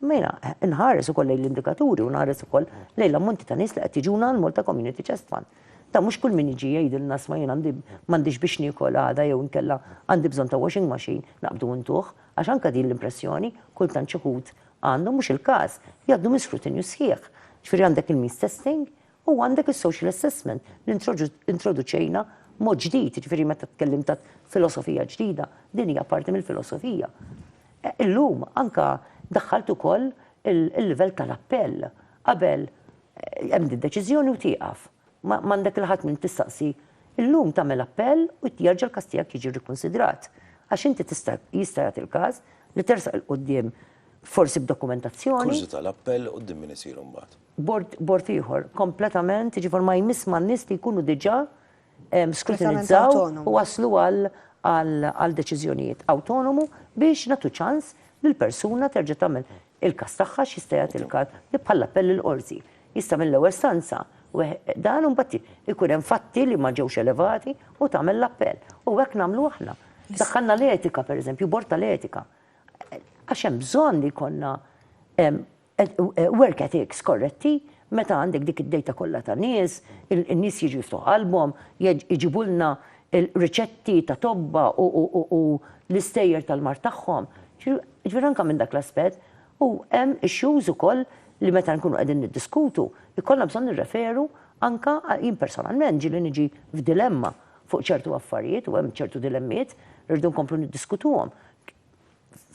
Imma jiena nħares ukoll lejn l-indikaturi u nħares ukoll lejn l-ammonti ta' nies li qed jiġuna għal Malta Community Chest Fund. Ta' mhux kull min jiġi jgħidilna sma' jien għandi m'għandix biex niekol għada jew inkella għandi bżonn ta' washing machine naqbdu u ntuh għax anke din l-impressjoni kultant xi wħud għandhom mhux il-każ jgħaddu minn skrutinju sħiħ. Ġifieri għandek il-means testing U għandek is-social assessment li introduċejna mod ġdid, jiġifieri meta tkellimt ta' filosofija ġdida, din hija parti mill-filosofija. Illum anke daħħalt ukoll il-livell tal-appell. Qabel hemm d-deċiżjoni u tieqaf. M'għandek lil ħadd min tistaqsi. Illum tagħmel appell u jerġa' l-każ tiegħek jiġi rrikunsidrat. Għax inti tista' jista' jagħti l-każ li tersaq 'il quddiem forsi b'dokumentazzjoni. Kurżità, l-appell quddiem min isir imbagħad? Bord, bord ieħor, kompletament, jiġifier ma jmiss ma' nies li jkunu diġà skrutinizzaw u waslu għal għal deċiżjonijiet awtonomu biex nagħtu ċans li l-persuna terġa' tagħmel il-każ tagħha x'jista' jagħti l-każ li bħal appell il-qorti. Jista' mill-ewwel stanza dan u mbagħad ikun hemm fatti li ma ġewx elevati u tagħmel l-appell. U hekk nagħmlu aħna. Daħħalna l-etika pereżempju, bord tal-etika. Għax hemm bżonn li jkollna work ethics korretti meta għandek dik id-dejta kollha ta' nies, in-nies jiġu jiftuħ qalbhom, jġibulna riċetti ta' tobba u l-istejjer tal-mard tagħhom. Ġifieri anke minn dak l-aspett u hemm issues ukoll li meta nkunu qegħdin niddiskutu jkollna bżonn nirreferu anke jien personalment ġieli niġi f'dilemma fuq ċertu affarijiet u hemm ċertu dilemmiet li rridu nkomplu niddiskutuhom.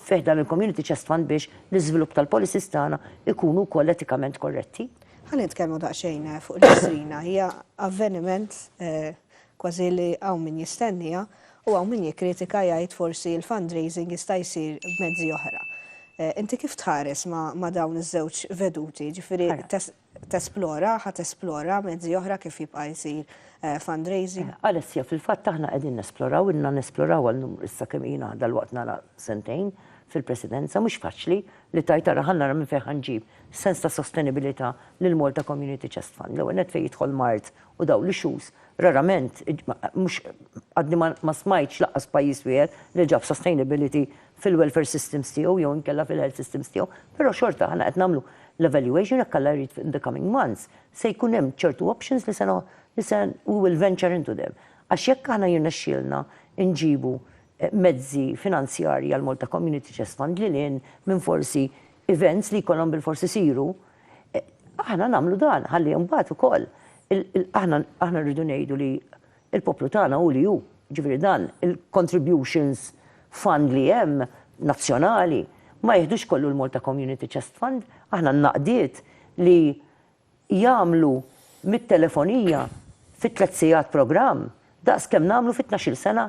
fi ħdan il-Community Chest Fund biex l-iżvilupp tal-policies tagħna jkunu wkoll etikament korretti. Ħa nitkellmu daqsxejn fuq l-Istrina. Hija avveniment kważi li hawn min jistenniha u hawn min jikkritika jgħid forsi l-fundraising jista' jsir b'mezzi oħra. Inti kif tħares ma' dawn iż-żewġ veduti, jiġifieri tesplora, ħa tesplora mezzi oħra kif jibqa' jsir fundraising. Alessia, Fil-fatt aħna qegħdin nesploraw, ilna nesploraw għal numru issa kemm ilna dalwaqt nara sentejn fil-Presidenza, mhux faċli li tgħid ara ħa nara minn fejn ħa nġib sens ta' sostenibilità lill-Malta Community Chest Fund. L-ewwel nett fejn jidħol mard u dawn l-issues, rarament, mhux għadni ma smajtx lanqas pajjiż wieħed li ġab sustainability fil-welfare systems tiegħu jew inkella fil-health systems tiegħu, però xorta aħna qed nagħmlu l-evaluation jekk Alla jrid in the coming months se jkun hemm ċertu options li se li se we will venture into them. Għax jekk aħna jirnexxielna nġibu mezzi finanzjarji għall-Malta Community Chest Fund lil hinn minn forsi events li jkollhom bilfors isiru, aħna nagħmlu dan ħalli mbagħad ukoll aħna aħna rridu ngħidu li Il-poplu tagħna hu li hu, jiġifieri dan il-contributions fund li hemm nazzjonali ma jiħdux kollu l-Malta Community Chest Fund, aħna n-naqdiet li jagħmlu mit-telefonija fi tliet sigħat programm daqs kemm nagħmlu fi tnax-il sena,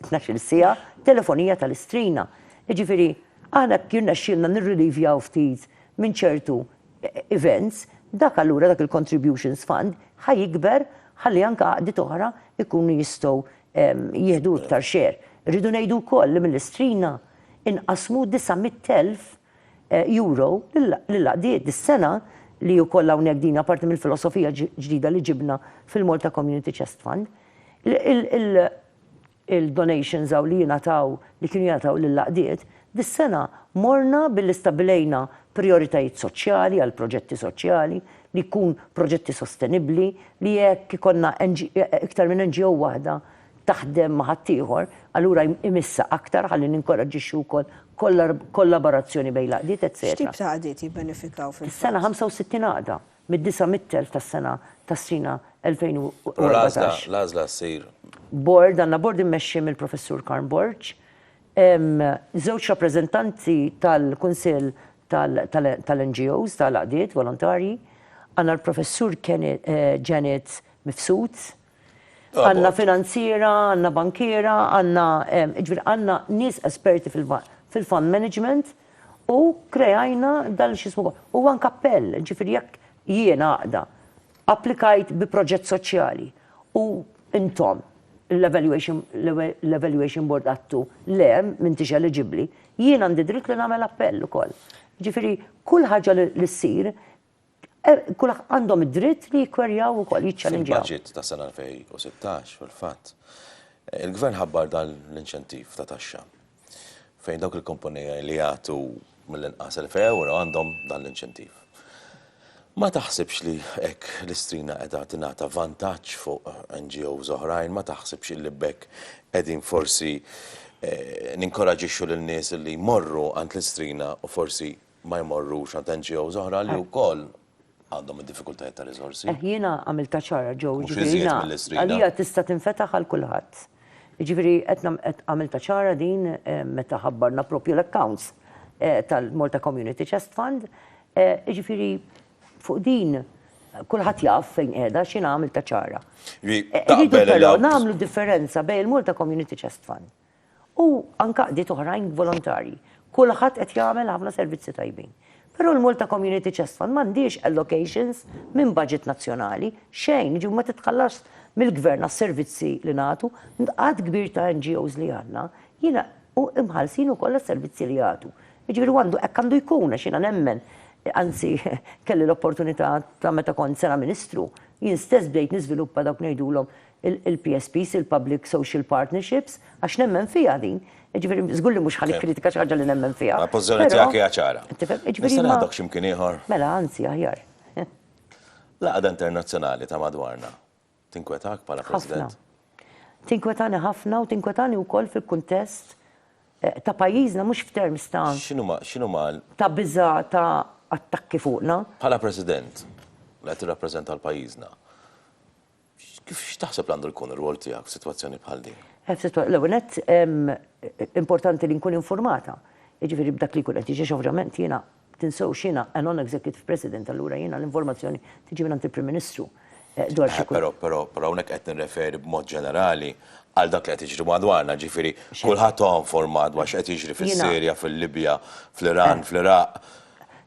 tnax-il siegħa telefonija tal-istrina. Jiġifieri aħna hekk jirnexxielna nirrilievjaw ftit minn ċertu events, dak allura dak il-contributions fund ħa jikber ħalli anke għaqdiet oħra jkunu jistgħu jieħdu iktar share. Irridu ngħidu wkoll li mill-Istrina nqasmu disa' mitt elf euro lill-għaqdiet dis-sena li wkoll hawnhekk din hija parti mill-filosofija ġdida li ġibna fil-Malta Community Chest Fund. Il, il-donations hawn li jingħataw, li kienu jingħataw lill-għaqdiet, dis-sena morna billi stabbilejna prijoritajiet soċjali għal proġetti soċjali, li jkun proġetti sostenibbli, li jekk ikollna iktar minn NGO waħda taħdem ma' ħaddieħor, allura imissha aktar ħalli ninkoraġġixxu wkoll kollaborazzjoni bejn l-għaqdiet, etc. X'tip ta' għaqdiet jibbenefikaw fil-fatt? Dis-sena 65 għaqda mid-900,000 tas-sena tas-sena 2014. U l-għażla ssir? Bord, għandna bord immexxi mill-Professur Karm Borg, żewġ rappreżentanti tal-Kunsill tal-NGOs, tal-Għaqdiet Volontarji, għandna l-Professur Janet Mifsud, Għandna finanziera, għandna bankiera, għandna, jiġifieri għandna nies esperti fil-fund management u kreajna dal x'ismu u anke appell, jiġifieri jekk jien għaqda applikajt bi proġett soċjali u intom l-evaluation l-evaluation board għadtu le m'intix eliġibbli, jien għandi dritt li nagħmel appell ukoll. Jiġifieri kull ħaġa li ssir Eh, Kull għandhom id-dritt li jikkwerjaw ukoll jiċċallinġjaw. Il-budget ta' sena 2016 fil-fatt eh, il-gvern ħabbar dan l-inċentiv ta' taxxa fejn dawk il-kumpanija li jagħtu mill-inqas 1000 euro għandhom dan l-inċentiv. Ma taħsibx li hekk l-istrina qiegħda tingħata vantaġġ fuq NGOs oħrajn, ma taħsibx li bekk qegħdin forsi eh, ninkoraġixxu lil nies li jmorru għand l-istrina u forsi ma jmorrux għand NGOs oħra li wkoll għandhom id-diffikultajiet ta' riżorsi. Eh, jiena għamiltha ċara ġew. Mhux iżjed mill-istrida. Għalija tista' tinfetaħ għal kulħadd. Jiġifieri qed għamilta ċara din eh, meta ħabbarna propju l-accounts eh, tal-Malta Community Chest Fund. Eh, jiġifieri fuq din kulħadd jaf fejn qiegħda x'in għamilta ċara. Ri, taqbel Nagħmlu differenza bejn il-Malta Community Chest Fund u anke għaqdiet oħrajn volontarji. Kulħadd qed jagħmel ħafna servizzi tajbin. Però l-Malta Community Chest Fund m'għandhiex allocations minn budget nazzjonali, xejn, jiġifieri ma titħallasx mill-Gvern għas-servizzi li nagħtu. Għadd kbir ta' NGOs li għandna jiena u imħallsin ukoll għas-servizzi li jagħtu. Jiġifieri u għandu hekk għandu jkun għax jiena nemmen, anzi kelli l-opportunità ta' meta kont sena Ministru, jien stess bdejt niżviluppa dawk ngħidulhom il-PSPs, il-Public Social Partnerships, għax nemmen fiha din. Ġifieri żgur li mhux ħa nikkritika xi ħaġa li nemmen fiha. Ma l-pożizzjoni tiegħek hija ċara. Tifhem? Ġifieri. Nista' ngħadok xi mkien ieħor? Mela, anzi aħjar. L-għaqda internazzjonali ta' madwarna tinkwetak bħala President? Ħafna. Tinkwetani ħafna u tinkwetani wkoll fil-kuntest ta' pajjiżna mhux f'terms ta'. X'inhuma, x'inhuma? Ta' biża' ta' attakki fuqna. Bħala President, li qed tirrappreżenta l-pajjiżna, X'taħseb li għandu jkun ir-rwol tiegħek f'sitwazzjoni bħal din? L-ewwel nett, importanti li nkun infurmata, jiġifieri b'dak li jkun qed jiġi għax ovvjament jiena, tinsewx jiena a non-executive president, allura jiena l-informazzjoni tiġi mingħand il-Prim Ministru dwar xi jkun. Però hawnhekk qed nirreferi b'mod ġenerali għal dak li qed jiġri madwarna, jiġifieri kulħadd huwa informat dwar x'qed jiġri fis-Sirja, fil-Libja, fl-Iran, fl-Iraq.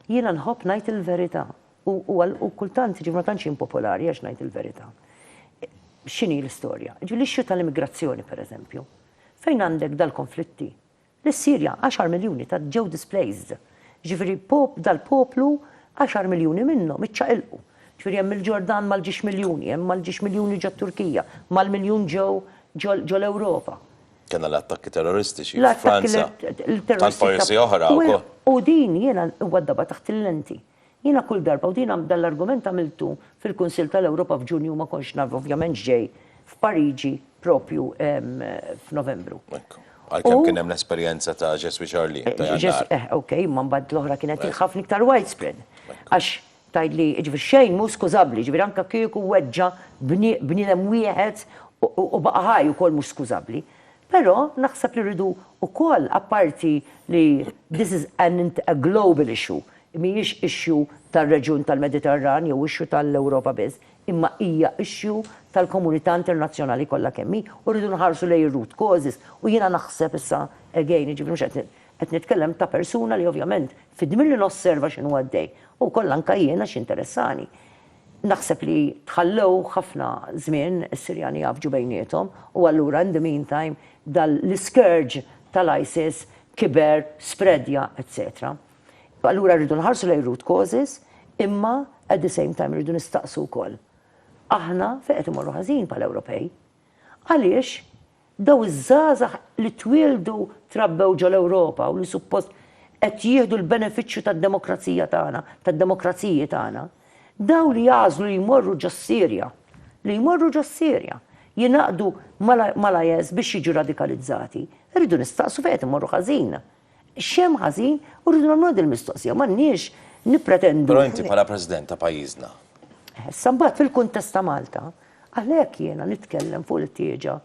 Jiena nħobb ngħid il-verità. U huwa u kultant jiġifieri ma tantx jien popolari għax ngħid il-verità. X'inhi l-istorja? Jiġifieri l-issue tal-immigrazzjoni pereżempju, fejn għandek dal-konflitti li s-Sirja għaxar miljuni ta' ġew displaced. Jiġifieri pop dal-poplu għaxar miljuni minnhom iċċaqilqu. Jiġifieri hemm il-Ġordan mal-ġiex miljuni, hemm mal-ġiex miljuni ġo t-Turkija, mal-miljun ġew ġo l-Ewropa. Kellna l-attakki terroristiċi f'Franza. Tant pajjiżi oħra wkoll. U din jiena huwa d-daba taħt il-lenti. Jiena kull darba, u din dan l-argument għamiltu fil-Kunsill tal-Ewropa f'Ġunju u ma kontx naf ovvjament x'ġej f'Pariġi propju f'Novembru. Hekk. Għalkemm kien hemm l-esperjenza ta' Je suis Charlie ta' Jannar. Eħ, ok, imma mbagħad l-oħra kienet hi ħafna iktar widespread. Għax tgħidli, jiġifieri xejn mhu skużabbli, jiġifieri anke kieku weġġa' bniedem wieħed u baqa' ħaj ukoll mhux skużabbli. Però naħseb li rridu wkoll apparti li this is a global issue, mhijiex issue tar-reġjun tal-Mediterran jew issue tal-Ewropa biss, imma hija issue tal-komunità internazzjonali kollha kemm hi u rridu nħarsu lejn ir-root causes u jiena naħseb issa, again, jiġifieri mhux qed qed nitkellem ta' persuna li ovvjament fidmi li nosserva x'inhu għaddej u wkoll anke jien għax jinteressani. Naħseb li tħallew ħafna żmien is-Sirjani jgħaffġu bejniethom u allura in the meantime dal l-iscourge tal-ISIS kiber, spreadja, etc. Allura rridu nħarsu lejn root causes, imma at the same time rridu nistaqsu wkoll, aħna fejn qed imorru ħażin bħala Ewropej? Għaliex dawn iż-żgħażagħ li twieldu trabbew ġol-Ewropa u li suppost qed jieħdu l-benefiċċju tad-demokrazija tagħna, tad-demokraziji tagħna, dawn li jagħżlu li jmorru ġos-Sirja, li jmorru ġos-Sirja, jingħaqdu mal-IS biex jiġu radikalizzati, irridu nistaqsu fejn qed imorru ħażin? X'hemm ħażin u rridu nagħmluha din il-mistoqsija, m'għandniex nippretendu. Però inti bħala President ta' pajjiżna. Issa mbagħad fil-kuntest ta' Malta, għalhekk jiena nitkellem fuq il-ħtieġa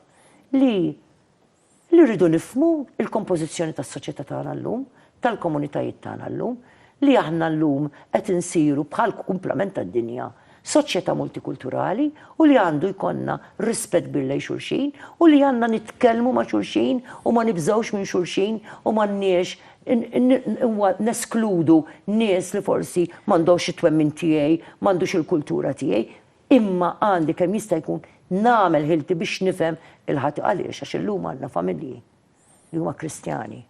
li li rridu nifhmu l-kompożizzjoni tas-soċjetà tagħna llum, tal-komunitajiet tagħna llum, li aħna llum qed insiru bħal kumplament tad-dinja soċjetà multikulturali u li għandu jkollna rispett kbir lejn xulxin u li għandna nitkellmu ma' xulxin u ma nibżgħux minn xulxin u m'għandniex neskludu nies li forsi m'għandhomx it-twemmin tiegħi, m'għandux il-kultura tiegħi, imma għandi kemm jista' jkun nagħmel ħilti biex nifhem lil ħadd. Għaliex? Għax illum għandna familji li huma Kristjani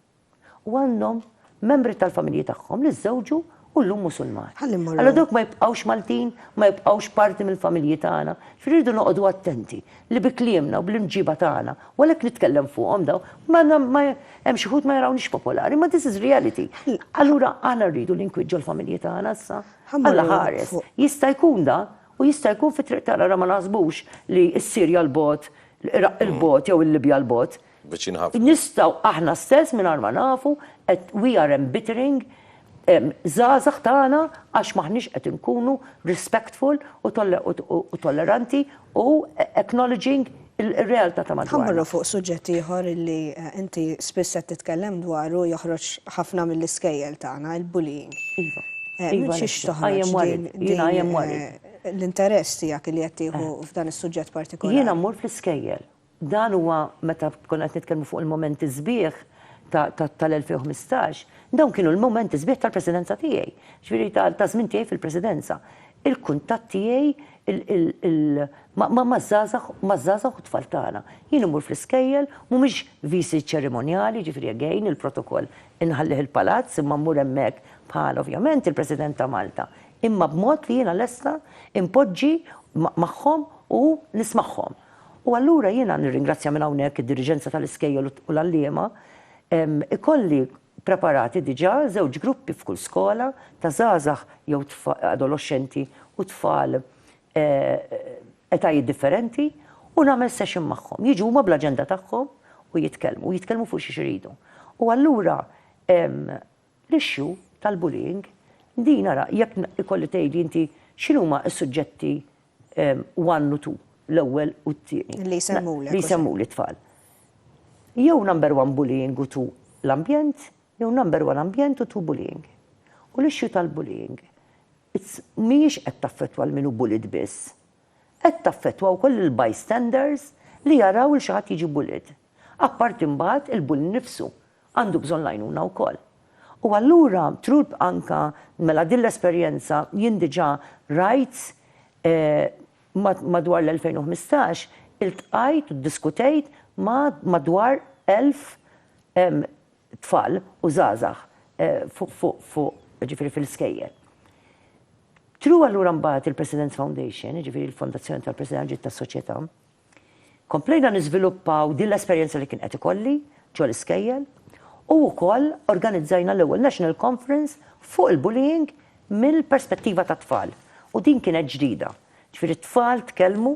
u għandhom membri tal-familji tagħhom li żżewġu u llum Musulmani. Ħalli mmorru. Allura dawk ma jibqgħux Maltin, ma jibqgħux parti mill-familji tagħna. Ġifieri rridu noqogħdu attenti li bi kliemna u bl-imġiba tagħna, u għalhekk nitkellem fuqhom dawn, ma hemm xi ħud ma jarawniex popolari, ma this is reality. Allura aħna rridu li nkwiġġu l-familji tagħna issa. Alla ħares. Jista' jkun da u jista' jkun fit-triq tagħna ma naħsbux li s-Sirja l-bot, l-Iraq il-bot jew il-Libja l-bot. viċin ħafna. Nistgħu aħna stess mingħajr ma nafu qed we are embittering żgħażagħ tagħna għax m'aħniex qed inkunu respectful u tolleranti u acknowledging ir-realtà ta' madwarna. Ħa mmorru fuq suġġett ieħor li inti spiss qed titkellem dwaru joħroġ ħafna mill-iskejjel tagħna, il-bullying. Iva. Minn xiex toħroġ l-interess tiegħek li qed tieħu f'dan is-suġġett partikolari? Jiena mmur fl-iskejjel Dan huwa meta konna qed nitkellmu fuq il-mumenti sbieħ ta' tal-2015, dawn kienu l-mumenti sbieħ tal-Presidenza tiegħi, jiġifieri taż-żmien tiegħi fil-Presidenza. Il-kuntatt tiegħi maż-żgħażagħ maż-żgħażagħ u t-tfal tagħna. Jien immur fl-iskejjel, mhumiex visi ċerimonjali, jiġifieri again il-protokoll inħallih il-Palazz imma mmur hemmhekk bħal ovvjament il-President ta' Malta, imma b'mod li jiena lesta inpoġġi magħhom u nismagħhom. U allura jiena nirringrazzja minn hawnhekk id-diriġenza tal-iskejjel u l-għalliema. Ikolli preparati diġà żewġ gruppi f'kull skola ta' żgħażagħ jew adoloxxenti u tfal etajiet differenti u nagħmel session magħhom. Jiġu huma bl-aġenda tagħhom u jitkellmu, jitkellmu fuq xiex iridu. U allura l-issue tal-bullying din ara jekk ikolli tgħidli inti x'inhuma s-suġġetti one u two, l-ewwel u t-tieni. Li jsemmulek. Li jsemmu lit-tfal. Jew number one bullying u two l-ambjent, jew number one ambjent u two bullying. U l-issue tal-bullying mhijiex qed taffettwa l-min hu bullied biss. Qed taffettwa wkoll il-bystanders li jaraw lil xi ħadd jiġi bullied. Apparti mbagħad il-bully nnifsu għandu bżonn l-għajnuna wkoll. U allura through anka mela din l-esperjenza jien diġà rajt madwar l-2015 iltqajt u ddiskutejt ma' madwar 1000 tfal u żgħażagħ fuq jiġifieri fil-iskejjel. Through allura mbagħad il-President's Foundation, jiġifieri l-fondazzjoni tal-President ġiet tas-Soċjetà, Komplejna niżviluppaw din l-esperjenza li kien qed ikolli ġol-iskejjel u wkoll organizzajna l-ewwel National Conference fuq il-bullying mill-perspettiva tat-tfal u din kienet ġdida. Ġifieri t-tfal tkellmu,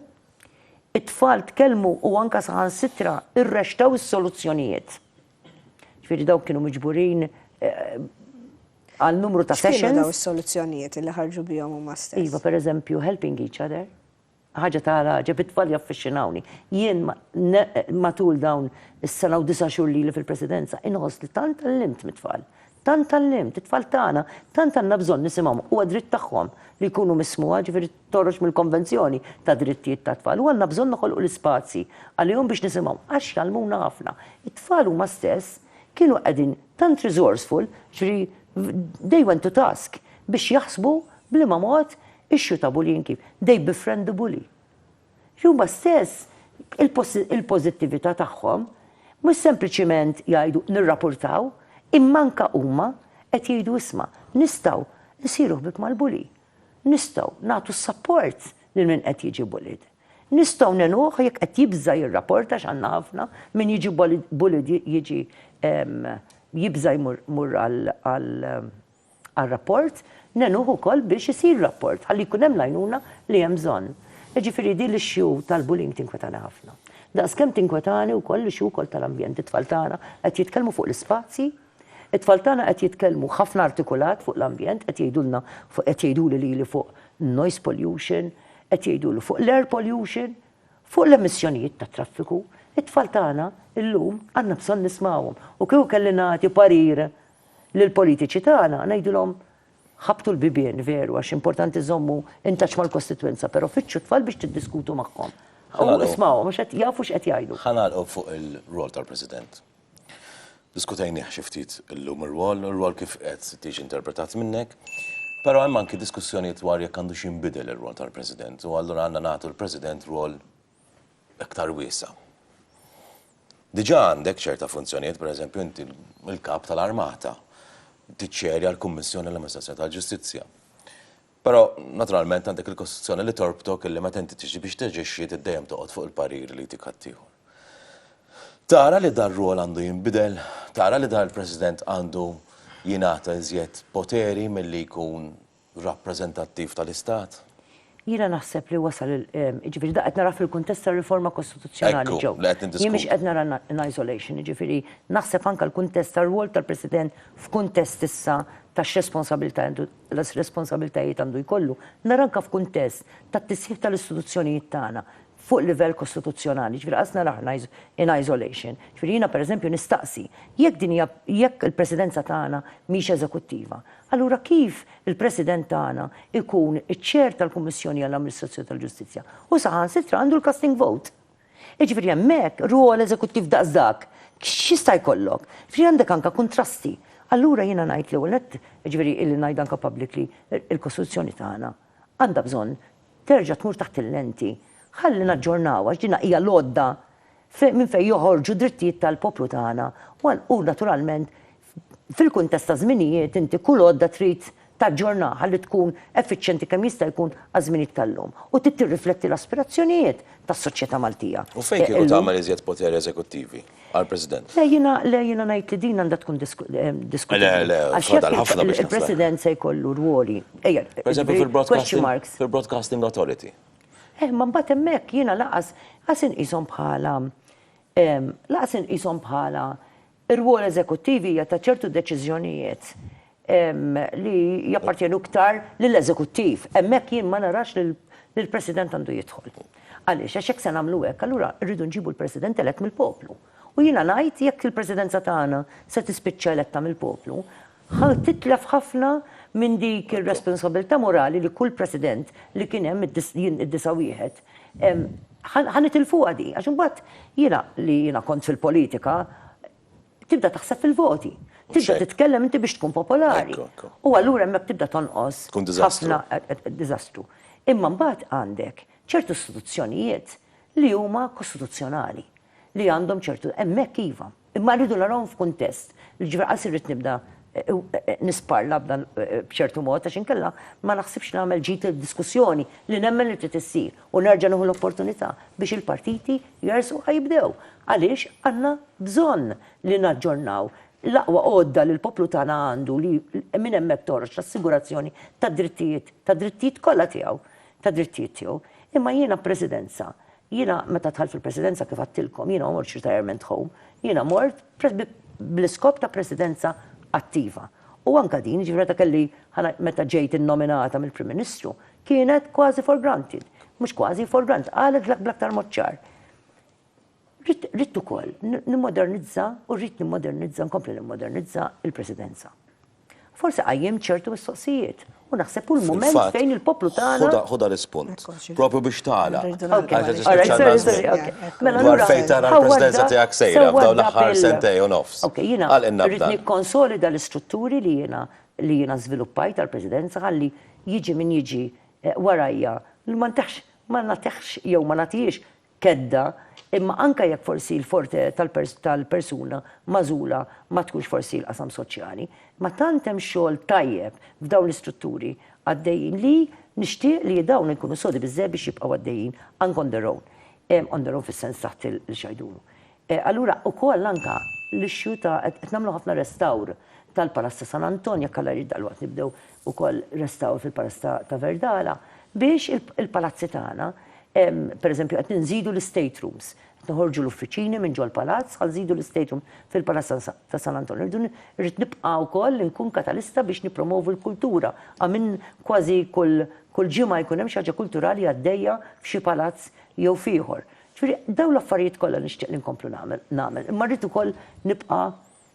it-tfal tkellmu u anke saħansitra rrexxtew is-soluzzjonijiet. Ġifieri dawk kienu miġburin għal numru ta' sessions. X'kienu dawn is-soluzzjonijiet li ħarġu bihom huma stess? Iva, pereżempju, helping each other, Ħaġa ta' l-għaġeb, it-tfal jaffiċċinawni. Jien matul dawn is-sena u disa' xhur lili fil-Presidenza inħoss li tant tgħallimt mit-tfal. Tant tgħallimt, it-tfal tagħna tant għandna bżonn nisimgħhom, huwa dritt tagħhom li jkunu mismugħa, ġifieri toħroġ mill-Konvenzjoni tad-Drittijiet tat-Tfal u għandna bżonn noħolqu l-ispazji għalihom biex nisimgħhom għax jgħallmuna ħafna. It-tfal huma stess kienu qegħdin tant resourceful, ġifieri they went to task biex jaħsbu b'liema mod Issue ta' bullying kif, they befriend the bully. Jiġifieri huma stess il-pożittività tagħhom mhux sempliċiment jgħidu nirrapurtaw, imma anke huma qed jgħidu isma', nistgħu nsiru ħbieb mal-bully. Nistgħu nagħtu s-sapport lil min qed jiġi bullied. Nistgħu ngħinuh jekk qed jibża' jirraporta għax għandna ħafna min jiġi bullied jiġi jibża' jmur għal għar-rapport, ngħinuh ukoll biex isir rapport ħalli jkun hemm l-għajnuna li hemm bżonn. Jiġifieri din l-issue tal-bullying tinkwetani ħafna. Daqskemm tinkwetani wkoll l-issue wkoll tal-ambjent. It-tfal tagħna qed jitkellmu fuq l-ispazji, it-tfal tagħna qed jitkellmu ħafna artikulat fuq l-ambjent, qed jgħidulna fuq qed jgħiduli lili fuq noise pollution, qed jgħiduli fuq l-air pollution, fuq l-emissjonijiet tat-traffiku. It-tfal tagħna llum għandna bżonn nismgħuhom u kieku kelli nagħti parir Lill-politiċi tagħna ngħidilhom ħabbtu l-bibien veru għax importanti żommu in touch mal-kostitwenza però fittxu t-tfal biex tiddiskutu magħhom. U ismgħuhom għax qed jafu x'qed jgħidu. Ħa nagħlqu fuq ir-rwol tal-President. Diskutejnieh xi ftit illum ir-rwol, ir-rwol kif qed tiġi interpretat minnek, però hemm anki diskussjonijiet dwar jekk għandux jinbidel ir-rwol tal-President u allura għandna nagħtu l-President rwol iktar wiesgħa. Diġà għandek ċerta funzjonijiet, pereżempju inti l-Kap tal-Armata, tiċċerja l-Kummissjoni għall-Amministrazzjoni tal-Ġustizzja. Però, naturalment, għandek il-Kostituzzjoni li torbtok illi meta inti tiġi biex taġixxi trid dejjem toqgħod fuq il-pariri li jtik ħaddieħor. Tara li dar-rwol għandu jinbidel, tara li dan il-President għandu jingħata iżjed poteri milli jkun rappreżentattiv tal-Istat. Jiena naħseb li wasal il, jiġifieri dak qed nara fil-kuntest tar-riforma kostituzzjonali, Joe. Ekku, li qed niddiskutu. Jien mhix qed nara in isolation, jiġifieri naħseb anke l-kuntest tar-rwol tal-President f'kuntest issa ta' x'responsabilità għandu, responsabilitajiet għandu jkollu, nara anke f'kuntest tat-tisħiħ tal-istituzzjonijiet tagħna, fuq livell kostituzzjonali, jiġifieri qas naraha in isolation. Jiġifieri jiena pereżempju nistaqsi, jekk din hija, jekk il-Presidenza tagħna mhix eżekuttiva, allura kif il-President tagħna jkun iċ-Chair tal-Kummissjoni għall-Amministrazzjoni tal-Ġustizzja? Hu saħansitra għandu l-casting vote. Jiġifieri hemmhekk rwol eżekuttiv daqs dak x'jista' jkollok? Jiġifieri għandek anke kuntrasti. Allura jiena ngħid l-ewwel nett, jiġifieri illi ngħid anke publicly, il-Kostituzzjoni tagħna, għandha bżonn terġa' tmur taħt il-lenti. Ħalli naġġornawha għax din hija l-għodda minn fejn joħorġu d-drittijiet tal-poplu tagħna u naturalment fil-kuntest ta' żminijiet inti kull għodda trid taġġornaha ħalli tkun effiċjenti kemm jista' jkun għaż-żminijiet tal-lum u trid tirrifletti l-aspirazzjonijiet tas-soċjetà Maltija illum. U fejn kieku tagħmel iżjed poteri eżekuttivi? għal President. Le jiena, le jiena ngħid li din għandha tkun diskutibbli. Le, le, fadal ħafna biex. Il-President se jkollu rwoli. Ejja, fil-Broadcasting Authority. Eh, ma mbagħad hemmhekk jiena laqas qas inqishom bħala laqas inqishom bħala rwol eżekuttivi hija ta' ċertu deċiżjonijiet li jappartjenu iktar lill-eżekuttiv. Hemmhekk jien ma narax li l-President għandu jidħol. Għaliex? Għax jekk se nagħmlu hekk, allura rridu nġibu l-President elett mill-poplu. U jiena ngħid jekk il-Presidenza tagħna se tispiċċa eletta mill-poplu, ħa titlef ħafna minn dik ir-responsabbiltà morali li kull President li kien hemm id-91 ħa nitilfuha di. Għax imbagħad jiena li jiena kont fil-politika, tibda taħseb fil-voti. Tibda titkellem inti biex tkun popolari. U allura hemmhekk tibda tonqos. Tkun diżastru. Diżastru. Imma mbagħad għandek ċertu istituzzjonijiet li huma kostituzzjonali li għandhom ċertu hemmhekk iva. Imma rridu narawhom f'kuntest. Ġifier għal sirrid nibda eh, eh, nisparla b'dan eh, b'ċertu mod għax inkella ma naħsibx nagħmel ġid id-diskussjoni li nemmen li trid issir. U nerġa' nieħu l-opportunità biex il-partiti jersqu ħa jibdew għaliex għandna bżonn li naġġornaw l-aqwa għodda li l-poplu tagħna għandu li minn hemmhekk toħroġ l-assigurazzjoni tad-drittijiet, tad-drittijiet kollha tiegħu, tad-drittijiet tiegħu. Imma jiena b'Presidenza, jiena meta dħalt fil-Presidenza kif għedtilkom jiena ma mortx retirement home, jiena mort bl-iskop ta' Presidenza attiva. U anke din, jiġifieri meta kelli, meta ġejt innominata mill-Prim Ministru, Kienet kważi for granted. Mhux kważi, for granted. Qalet bl-aktar mod ċar. Rrid ukoll nimmodernizza u rrid nimmodernizza, nkompli nimmodernizza il-Presidenza. Forsi qajjem ċertu mistoqsijiet U naħseb kull moment fejn il-poplu tagħna. Ħuda l-ispunt. Propju biex tagħla. Mela dwar fejn tara l-presidenza tiegħek sejra f'dawn l-aħħar sentej u nofs. Għal inna rrid nikkonsolida l-istrutturi li jiena li jiena żviluppajt għall-Presidenza ħalli jiġi min jiġi warajja ma ntihx, ma nagħtihx jew ma nagħtihiex kedda imma anke jekk forsi l-forte tal-persuna magħżula ma tkunx forsi l-qasam soċjali imma tant hemm xogħol tajjeb f'dawn l-istrutturi għaddejjin li nixtieq li dawn ikunu sodi biżżejjed biex jibqgħu għaddejjin anke on their own, on their own fis-sens taħt il-xajdunu. Allura ukoll anke l-issue ta' qed nagħmlu ħafna restawr tal-Palazz ta' San Anton, jekk Alla jrid dalwaqt nibdew ukoll restawr fil-Palazz ta' Verdala biex il-palazzi tagħna, pereżempju qed inżidu l-estate rooms, qed noħorġu l-uffiċini minn ġol-palazz ħa nżidu l-estate room fil-Palazz ta' San Anton. Irridu irrid nibqa' wkoll inkun katalista biex nippromovu l-kultura. Għamiln kważi kull kull ġimgħa jkun hemm xi ħaġa kulturali għaddejja f'xi palazz jew f'ieħor. Ġifieri, dawn l-affarijiet kollha nixtieq li nkomplu nagħmel, nagħmel, imma rrid ukoll nibqa'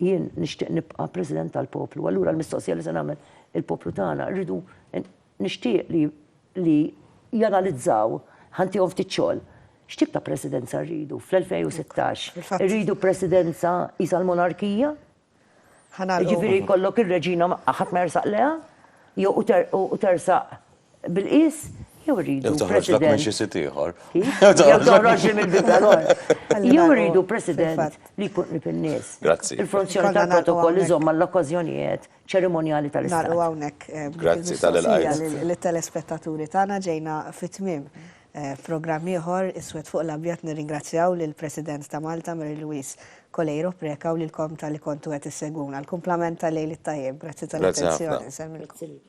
jien nixtieq nibqa' President tal-poplu. Allura l-mistoqsija li se nagħmel il-poplu tagħna, irridu nixtieq li li janalizzaw, ħa ntihom ftit xogħol, x'tip ta' Presidenza rridu fl-2016? Irridu Presidenza qisha l-monarkija? Ħa nagħlqu. Jiġifieri jkollok ir-reġina ħadd ma jersaq lejha? Jew u tersaq bil-qies? Jew irridu president. Jew toħroġlek minn xi sit ieħor. Kif? Jew toħroġli mill-bib tal-ħoss. Jew irridu president li jkun qrib in-nies. Grazzi. Il-funzjoni tal-protokoll iżomm għall-okkażjonijet ċerimonjali tal-Istat. Nagħlqu hawnhekk. Grazzi tal-ilqajt. Lis-telespettaturi tagħna ġejna fit-tmiem. F'programm ieħor, Iswed fuq l-Abjad nirringrazzjaw lill-President ta' Malta Mary Louise Coleiro Preca u lilkom talli kontu qed issegwuna. L-kumplament ta' lejl it-tajjeb. Grazzi tal-attenzjoni. Nsellmilkom.